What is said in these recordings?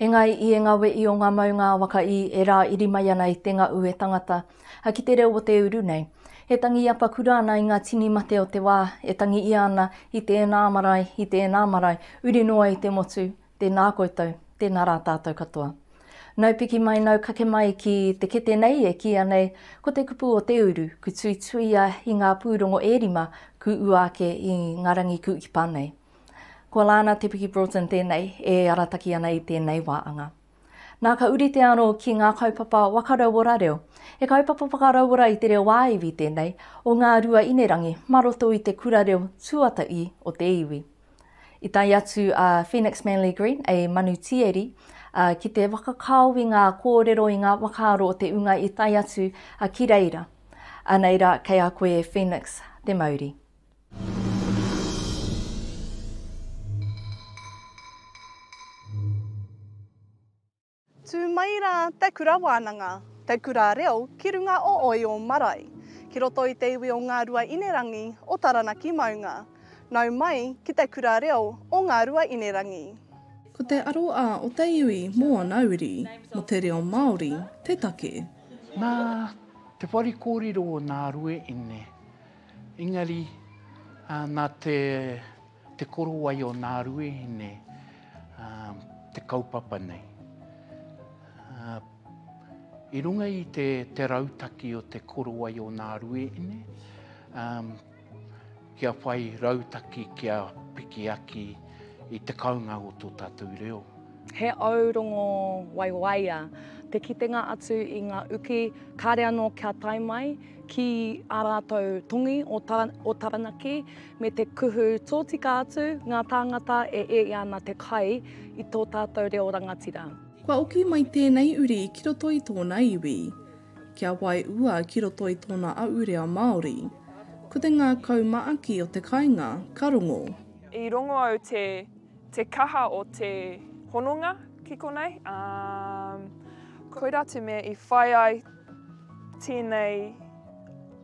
Engai i enga we i o nga maunga a waka i e ra iri mai ana i te nga ue tangata. A ki te reo o te uru nei. E tangi apa kura ana i nga tini mate o te wa, e tangi ia ana i te ena marae, i te ena marae, uri noa i te motu, Tēnā koutou, tēnā rā tātou katoa. Nau piki mai, nau kake mai ki te kete nei e kīia nei ko te kupu o te uru, ku tuituia i ngā pūrongo e rima ku ua ake i ngā rangi ku ipa nei. Ko Lana Te Piki Broughton tēnei e arataki ana i tēnei wā anga. Nā ka uri te aro ki ngā kaupapa waka rauora reo, he kaupapa whakarauora i te reo ā-iwi tēnei o Ngāruainerangi mā roto i te kura reo tuataī o te iwi. I tae atu a Phoenix Manly Green, a Manu Tieri, a, ki te whakakao i ngā kōrero, i ngā whakaaro o te ūnga i tae atu a, ki reira. Anei rā, kei a koe e Phoenix te mauri. Tū mai rā te kura wānanga, te kura reo ki runga o Oio marae, ki roto i te iwi o Ngāruainerangi o Taranaki maunga. Nau mai ki te kura reo o Ngāruainerangi. Ko te aro a o te iwi mō ana uri, mō te reo Māori, te take. Nā te whare kōrero o Nārueine, engari nā te. Te korowai o nā ruehine te kaupapa nei. I runga i te, te rautaki o te korowai o nā ruehine, um, kia whai rautaki, kia piki aki i te kaunga o tō tātou reo. He aurongo waiwaia te kitenga atu i ngā uki, kāre anō kia tae mai ki ā rātou tongi o, Tara, o Taranaki, me te kuhu tōtika atu ngā tāngata e ē ana te kai i tō tātou reo rangatira. Kua oki mai tēnei uri ki roto i tōna iwi. Kia waiua ki roto i tōna ahurea Māori. Ko te ngākau maaki o te kainga ka rongo. I rongo au te te kaha o te hononga ki konei, ā, koirā te mea i whai ai. Tēnei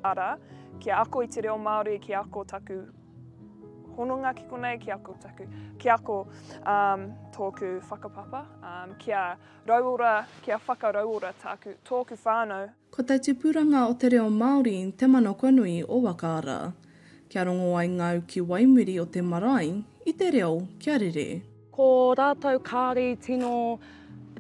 ara, kia ako i te reo Māori, kia ako taku hononga ki konei, kia ako taku, kia ako um, tōku whakapapa, um, kia rauora, kia whakarauora tāku, tōku whānau. Ko te tupuranga o te reo Māori te mana kua nui o Waka Ara. Kia rongo ai ngau ki waimuri o te marae i te reo kia rere. Ko rātou kāri tino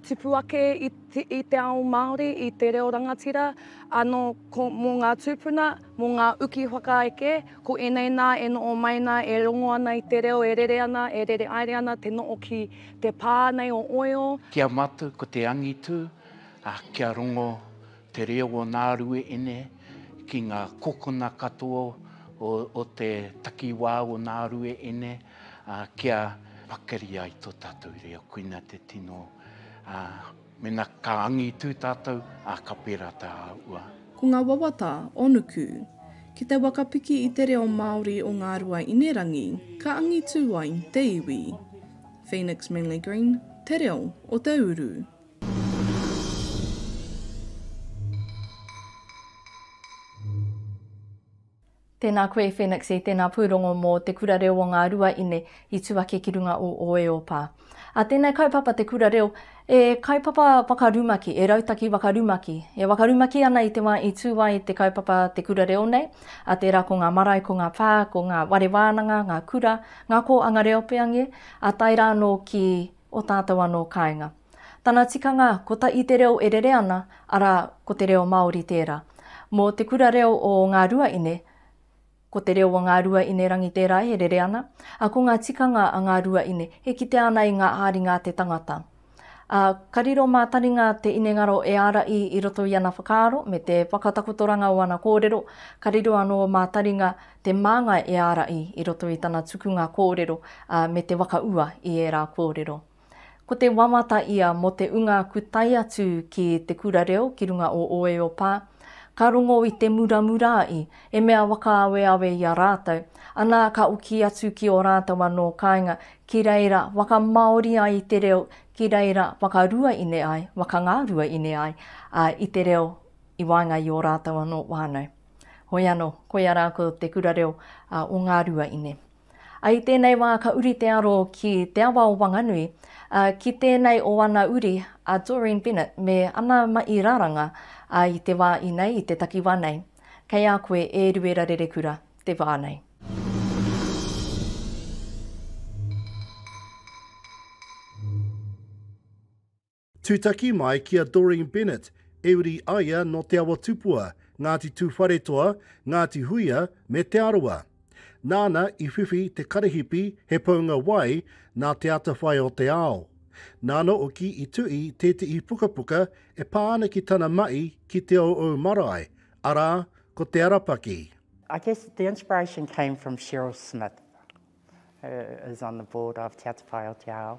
tipu ake i te ao Māori, i te reo rangatira, anō mō ngā tūpuna, mō ngā uki whakaeke, ko ēnei nā e noho mai ana, e rongo ana i te reo, e rere ana, e rere aere ana te noho ki te pā nei o Oeo. Ki a mātou ko te angitu, kia rongo te reo o nā rueene ki ngā kokona katoa o te takiwā o nā rueene. ā, kia pakari ai tō tātou reo, koina te tino, ā, mena ka angitū tātou, ā, ka pērā tā ua. Ko ngā wawata o Nuku. Ki te whakapiki i te reo Māori o Ngāruaīnerangi, ka angitū ai te iwi. Phoenix Manly Green, Te Reo o te Uru. Tēnā koe Phoenix e tēnā pūrongo mō Te Kura Reo o Ngā Ruaine i tū ake ki runga o Oeopa. A tēnei kaupapa Te Kura Reo e kaupapa whakarumaki, e rautaki wakarumaki. E wakarumaki ana i te wā i tū ai te kaupapa Te Kura Reo nei, a tērā ko ngā marae, ko ngā pā, ko ngā ware wānanga, ngā kura, ngā kōanga reo peange, a tae rā anō ki o tātou anō kāinga. Tana tikanga ko ta i te reo e rere ana, arā, ko te reo Māori tērā. Mō te kura reo o Ngā Ruaine, ko te reo o Ngā Ruaine Rangi tērā e rere ana, ā, ko ngā tikanga a Ngā Ruaine e kitea ana i ngā āringa a te tangata. Ā, ka riro mā Taringa te inengaro e ārahi i roto i ana whakaaro me te whakatakotoranga o ana kōrero, ka riro anō mā Taringa te māngai e ārahi i roto i tana tukunga kōrero, ā, me te whakaua i ērā kōrero. Ko te wawata ia mō te unga ku tae atu ki te kura reo ki runga o Oeopā, ka rongo i te muramura i, e mea wakaaweawe i a rātou, anā ka oki atu ki o rātou anō kāinga ki reira wakamāori ai te reo ki reira wakaruaine ai, wakangaruaine ai a i te reo i waenga i o rātou anō whānau. Hoi anō, koia rā ko te kura reo o ngā ruaine. I tēnei wā ka uri te aro ki te awa o Wanganui, ā, ki tēnei o ana uri a Doreen Bennett me ana mahi raranga, ā, i te wā inei, i te takiwā nei. Kei a koe e Ruera Rerekura te wā nei. Tūtaki mai ki a Doreen Bennett, e uri ai ia nō Te Awa Tupua, Ngāti Tūwharetoa, Ngāti Huia me Te Arawa. Nāna i whiwhi te karahipi he paunga wai nā Te Atawhai o te Ao. Nāna hoki i tuhi tētehi pukapuka e pā ana ki tana mahi ki Te Ouou Marae, arā, ko Te Arapaki. I guess the inspiration came from Cheryl Smith, who is on the board of Te Atawhai o te Ao.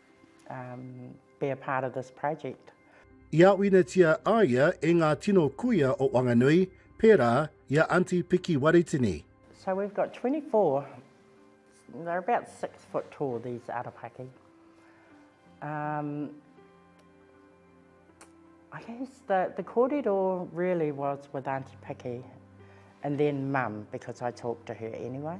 um, be a part of this project. I āwinetia a ia e ngā tino kuia o Wanganui, pērā i a Aunty Piki Waritini. So we've got 24, they're about six foot tall, these arapaki. Um, I guess the, the kōrero really was with Aunty Piki and then mum because I talked to her anyway.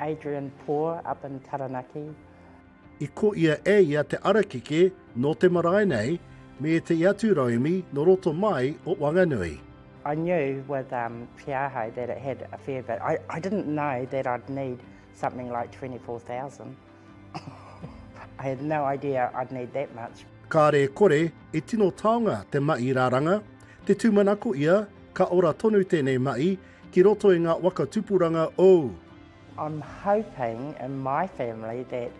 Adrian Poor up in Taranaki. I ko ia e ia te arakeke no te marae nei me etahi atu rauemi no roto mai o Wanganui. I knew with um, Te Ahau that it had a fair bit. I, I didn't know that I'd need something like 24,000. I had no idea I'd need that much. Kāre e kore, e tino taonga te maʻi raranga, te tūmanako ia, ka ora tonu tēnei maʻi, Ki roto i nga waka tupuranga ou. I'm hoping in my family that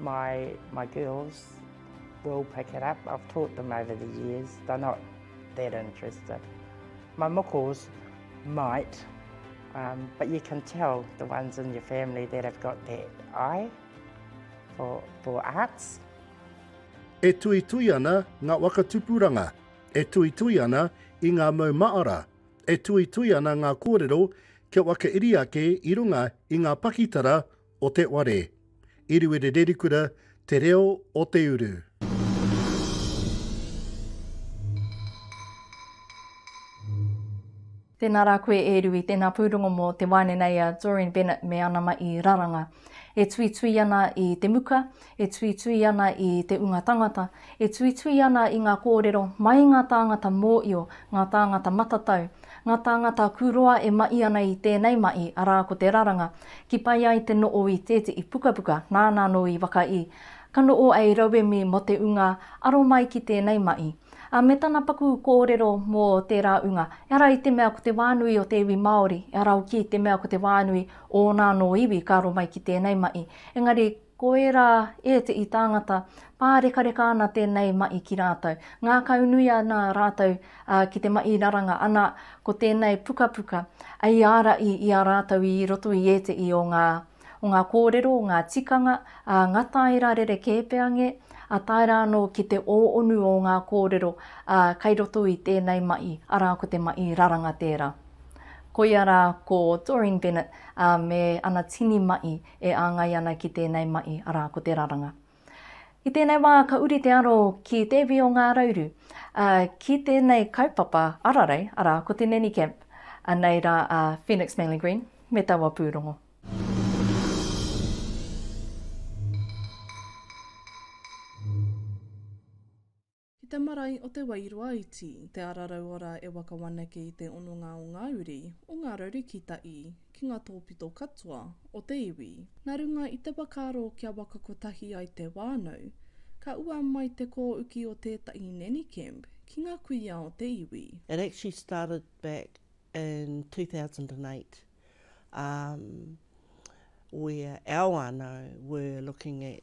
my my girls will pick it up, I've taught them over the years, they're not that interested. My mokos might, um, but you can tell the ones in your family that have got that eye for, for arts. E tuitui ana nga waka tupuranga, e tuitui ana i nga mau maara. e tuitui ana ngā kōrero kia whakairi ake i runga i ngā pakitara o te ware. Iriwiri Rerikura Te Reo o te Uru. Tēnā rā koe e Rui, tēnā pūrongo mō te wāne nei a Doreen Bennett me ana mahi raranga. E tuitui ana i te muka, e tuitui ana i te ūnga tangata, e tuitui ana i ngā kōrero mai ngā tāngata mōio, ngā tāngata matatau, ngā tāngata kūroa e maʻi ana i tēnei maʻi, arā ko te raranga, ki pai ai te noʻo i tēteʻi pukapuka nāna anō i whakaʻi, ka noʻo ai rauemi mō te ūnga aro mai ki tēnei maʻi. A me tana paku kōrero mō tērā ūnga, ehara i te mea ko te wā nui o te iwi Māori, ehara hoki i te mea ko te wā nui o ōna anō iwi ka aro mai ki tēnei maʻi, engari, Ko ērā ēteʻi tāngata, pārekareka ana tēnei maʻi ki rātou. Ngākaunui ana rātou ki te maʻi raranga, ana ko tēnei pukapuka i āraʻi i a rātou i roto i ēteʻi o ngā o ngā kōrero, ngā tikanga, ngā tāera rerekē pea nge, a tae rā anō ki te ōonu o ngā kōrero kai roto i tēnei maʻi, arā ko te maʻi raranga tērā. Koia rā ko Doreen Bennett me ana tini maʻi e āngai ana ki tēnei mahi, arā, ko te raranga. I tēnei wā ka uri te aro ki Te Iwi o Ngā Rauru, ā, ki tēnei kaupapa ararei, arā, ko te Nanny Camp, anei rā a Phoenix Manly Green me taua pūrongo. Ki te marae o Te Wairoa iti, Te Ara Rauora e waka wanake i te hononga o ngā uri, o ngā rarukitahi, ki ngā tōpito katoa o te iwi. Nā runga i te whakaaro kia waka kotahi ai te whānau, ka ua mai te kōuki o tētahi nanny camp ki ngā kuia o te iwi. It actually started back in 2008 um where our whānau were looking at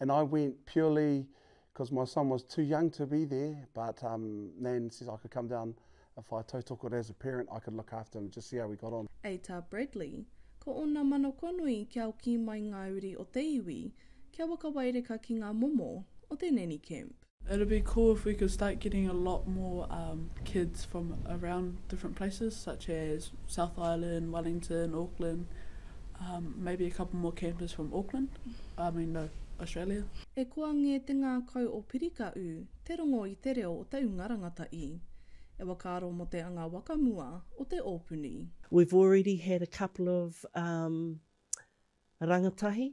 And I went purely cos my son was too young to be there but um Nan says I could come down if I tautoko it as a parent I could look after him just see how he got on. A ta Bradley, ko ona manokonui kia oki mai nga uri o te iwi, kia wakawaireka ki nga momo o te nanny camp. It'd be cool if we could start getting a lot more um kids from around different places such as South Island, Wellington, Auckland, um maybe a couple more campers from Auckland, I mean no, Australia. E koa ngē te ngākau o Pirika ū, te rongo i te reo o te ūnga rangata i. E wakaaro mō te anga waka mua o te ōpuni. We've already had a couple of um rangatahi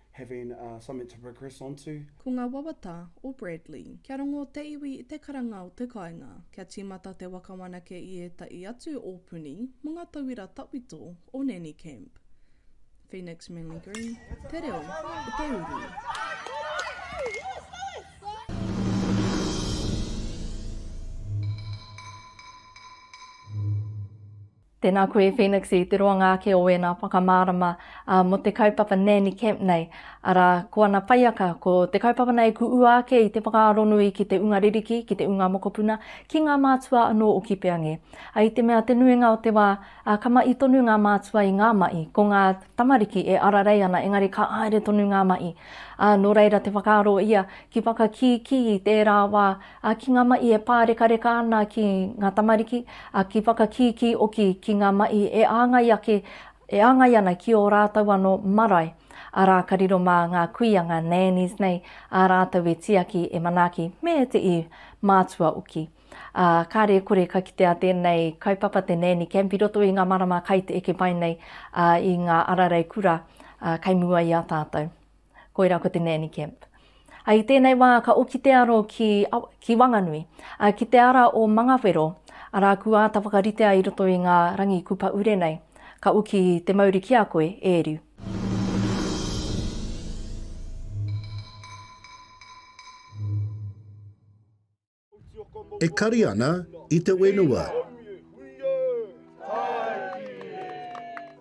having something to progress onto. Ko ngā wawata o Bradley. Kia rongo te iwi i te karanga o te kāinga. Kia tīmata te waka whanake i ētahi atu ōpuni mō ngā tauira tawhito o Nanny Camp. Phoenix Manly Green, te reo o te uru. Tēnā koe Phoenix i te roanga ake o ēnā whakamārama mō te kaupapa Nanny Camp nei, arā, ko ana paiaka, ko te kaupapa nei ku ua ake i te whakaaronui ki te unga ririki, ki te unga mokopuna, ki ngā mātua anō o Kipeange. A i te mea te nuinga o te wā, ka mahi tonu ngā mātua i ngā mahi, ko ngā tamariki e ararei ana engari ka haere tonu ngā mahi. Nō reira te whakaaro ia ki whakakīkī i tērā wā A ki nga maʻi e pārekareka ana ki nga tamariki, a ki whakakīkī oki ki nga maʻi e āngai ake, e āngai ana ki o rātou ano marae, ara ka riro ma nga kuia, nga nannies nei, a rātou e tiaki, e manaaki, me te i mātua oki. A kare kore ka kitea tēnei kaupapa te nanny camp i roto i nga marama kai te eke mai nei, a i nga ararei kura, a kei mua i a tātou. Koirā ko te Nanny Camp. A, I tēnei wā ka oki te aro ki, ki Wanganui, a, ki te ara o Mangawhero, arā ku āta whakaritea i roto i ngā rangi kupa ure nei. Ka oki te mauri ki a koe, e Riu. E kari ana i te wenua.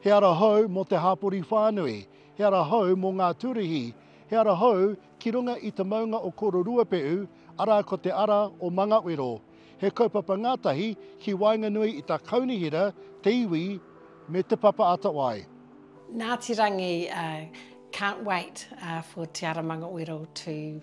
He ara hou mō te hāpori whānui, he ara hou mō ngā tūruhi, he ara hou ki runga i te maunga o Kororuapehu, arā ko te ara o Mangawero. He kaupapa ngātahi ki waenganui i tā Kaunihera, te iwi me Te Papa Atawai. Ngāti Rangi can't wait for Te Ara Mangawero to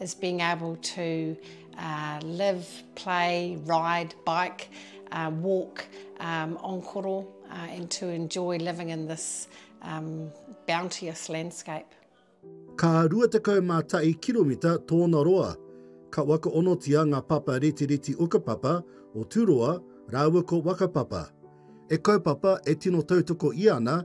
is being able to uh, live, play, ride, bike, uh, walk um, on koro uh, and to enjoy living in this um, bounteous landscape. Ka 21 kiromita tōna roa. Ka waka onotia ngā papa reti reti ukapapa o Turoa rāua ko Wakapapa. E kaupapa e tino tautoko ia ana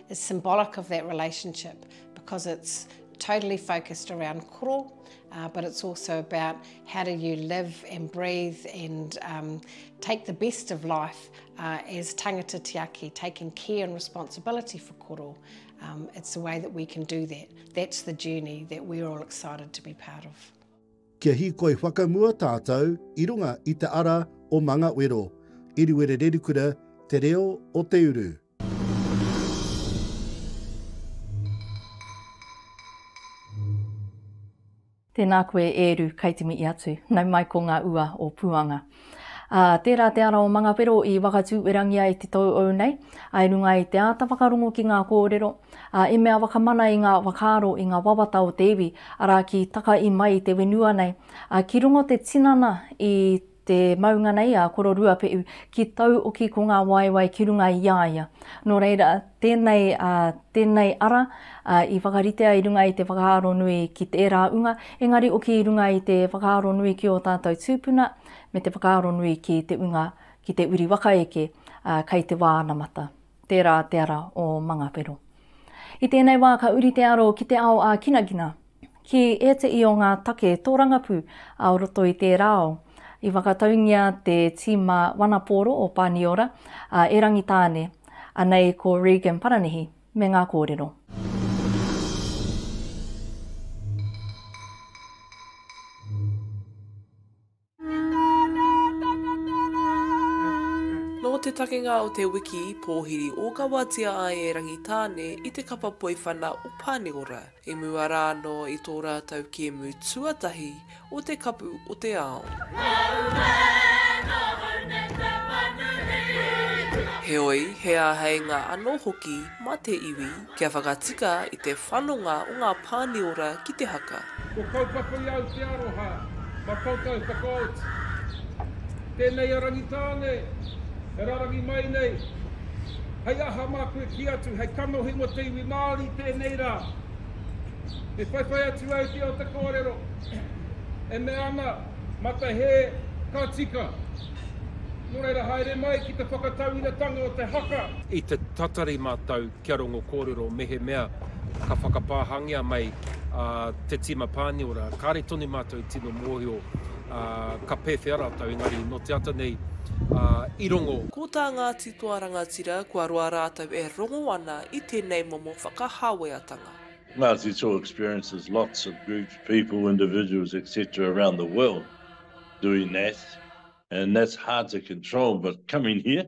is symbolic of that relationship because it's totally focused around koro, uh, but it's also about how do you live and breathe and um, take the best of life uh, as tangata tiaki, taking care and responsibility for koro. Um, it's the way that we can do that. That's the journey that we're all excited to be part of. Kia hikoi whakamua tātou i runga i te ara o Mangawero, Iriwere Rerikura, Te Reo o Te Uru. Tēnā koe e Eru, kei te mihi atu. Nau mai ko ngā ua o Puanga. Ā, tērā te ara o Mangawhero i whakatūerangia e te tōu nei, ā, i runga i te āta whakarongo ki ngā kōrero, ā, i mea whakamana i ngā whakaaro, i ngā wawata o te iwi, arā, ki takahi mai i te whenua nei, ā, ki runga o te tinana i te maunga nei a Koro Ruapeʻu ki tauoki ko ngā waewae ki runga i a ia. Nō reira, tēnei, ā, tēnei ara, ā, i whakaritea i runga i te whakaaro nui ki tērā unga, engari oki i runga i te whakaaro nui ki ō tātou tūpuna, me te whakaaro nui ki te unga, ki te uri waka eke, ā, kei te wā anamata. Tērā te ara o Mangawhero. I tēnei wā ka uri te aro ki te ao ā-kinakina, ki ēteī o ngā take tōrangapū ā roto i tērā ao. I whakataungia te tīma wanapōro o Pāniora, a E Rangitāne, anei ko Regan Paranihi, me ngā kōrero. Nō te takenga o te wiki, pōhiri ōkawatia ai e Rangitāne i te kapa poiwhana o Pāniora, i mua rā anō i tō rātou kēmu tuatahi o te Kapu o te Ao. Heoi, he āheinga anō hoki mā te iwi kia whakatika i te whanonga o ngā pāniora ki te haka. Kua kaupapa i au te aroha, ma koutou whakaoti. Tenei a Rangitāne e rarangi mai nei, hei aha ma koe ki atu hei kanohi mo te iwi Māori tenei ra. E whaiwhai atu ai te o te korero, e mea ana, mata he, ka tika. No reira haere mai ki te whakatauiratanga o te haka. I te tatari matou kia rongo kōrero mehemea ka whakapāhangia mai te tīma Pāniora, kāre tonu mātou i tino mōhio ka pēwhea rātou, engari nō te ata nei i rongo. Ko tā Ngāti Toa Rangatira kua roa rātou e rongo ana i tēnei momo whakahāweatanga. Ngāti Toa experiences lots of groups, people, individuals etc around the world doing that and that's hard to control but coming here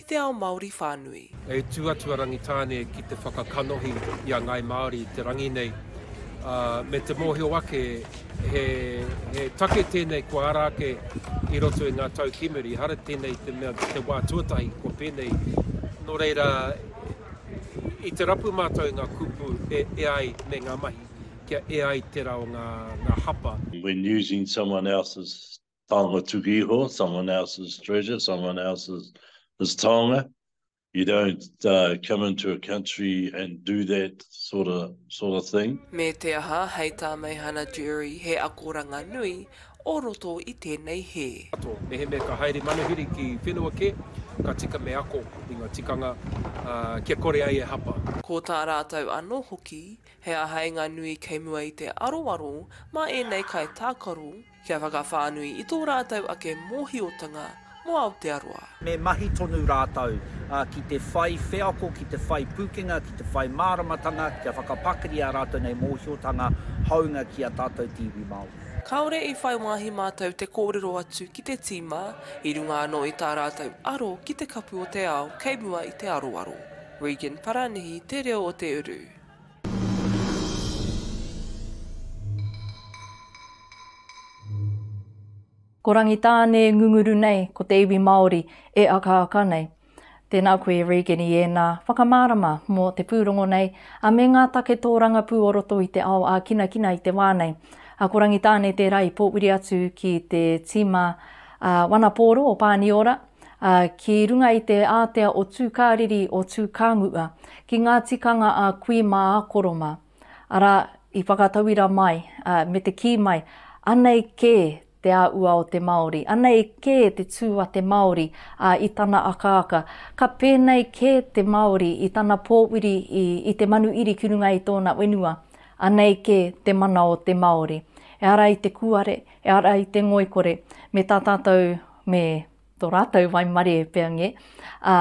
i te ao Māori whānui. E tū atu a Rangitāne ki te whakakanohi i a ngāi Māori i te rangi nei, ā, me te mōhio ake he, he take tēnei kua ara ake i roto i ngā tau kimi, ehara tēnei te mea te wā tuatahi kua pēnei. Nō reira, i te rapu mātou i ngā kupu e, e ai me ngā mahi, kia e ai tērā o ngā, ngā hapa. When using someone else's taonga tuku iho, someone else's treasure, someone else's his taonga. You don't uh, come into a country and do that sort of, sort of thing. Me te aha, hei tā Meihana Jury, he akoranga nui o roto i tēnei hē. Ato, mehemea ka haere manuhiri ki whenua kē, ka tika me ako i ngā tikanga uh, kia kore ai e hapa. Ko tā rātou anō hoki, he āheinga nui kei mua i te aroaro mā ēnei kaitākaro, Kia whakawhānui i tō rātou ake mōhiotanga mō Aotearoa. Me mahi tonu rātou ki te whai wheako, ki te whai pūkenga, ki te whai māramatanga, kia whakapakari ā rātou nei mōhiotanga hāunga ki ā tātou te iwi Māori. Kāore i whai wāhi mātou te kōrero atu ki te tīma, i runga anō i tā rātou aro ki te kapu o te ao kei mua i te aroaro. Regan Paranihi, Te Reo o Te Uru. Ko Rangitāne e ngunguru nei, ko te iwi Māori e akaaka nei. Tēnā koe e Regan i ēnā whakamārama mō te pūrongo nei, a me ngā take tōrangapū o roto i te ao ākinakina i te wā nei. A ko Rangitāne tērā i pōwiri atu ki te tīma ā Wanapōro o Pāniora. ā, ki runga i te ātea o Tūkāriri o Tūkānguʻa, ki ngā tikanga a kui mā a koro mā, arā, i whakatauira mai, ā, me te kī mai, anei kē te āʻua o te Māori, anei kē te tū a te Māori, ā, i tana akaaka, ka pēnei kē te Māori i tana pōuri i, i te manu iri ki runga i tōna whenua, anei kē te mana o te Māori. Ehara i te kūare, ehara i te ngoikore, me tā tātou me tō rātou waimarē pea nge, ā,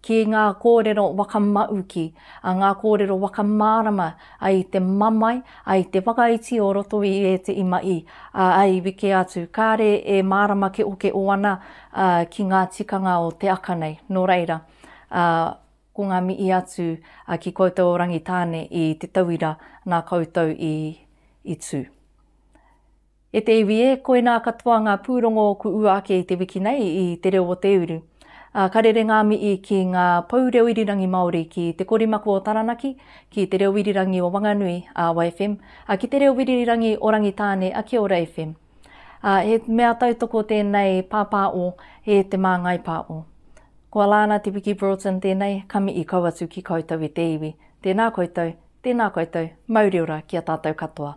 ki ngā kōrero wakamauki, ā, ngā kōrero wakamārama, ā, i te mamae, ā, i te whakaiti o roto i ēte i maʻi, ā, i wike atu, kāre e mārama keʻokeʻo ana, ā, ki ngā tikanga o te aka nei. Nō reira, ā, ko ngā mihi atu, ā, ki koutou o Rangitāne i te tauira nā koutou i, i tū. E te iwi e, koinā katoa ngā pūrongo o ku ua ake i te wiki nei i Te Reo o te Uru. A, ka rere ngā mihi ki ngā pou reo irirangi Māori, ki Te Korimako o Taranaki, ki Te Reo Irirangi o Wanganui, Awa FM, a, ki Te Reo Wiririrangi o Rangitāne, a, Kia Ora FM. A, he mea tautoko tēnei pāpā o e Te Māngai Pā o. Ko Alana Te Wiki Broughton tēnei, ka mihi kau atu ki koutou e te iwi. Tēnā koutou, tēnā koutou, mauri ora ki a tātou katoa.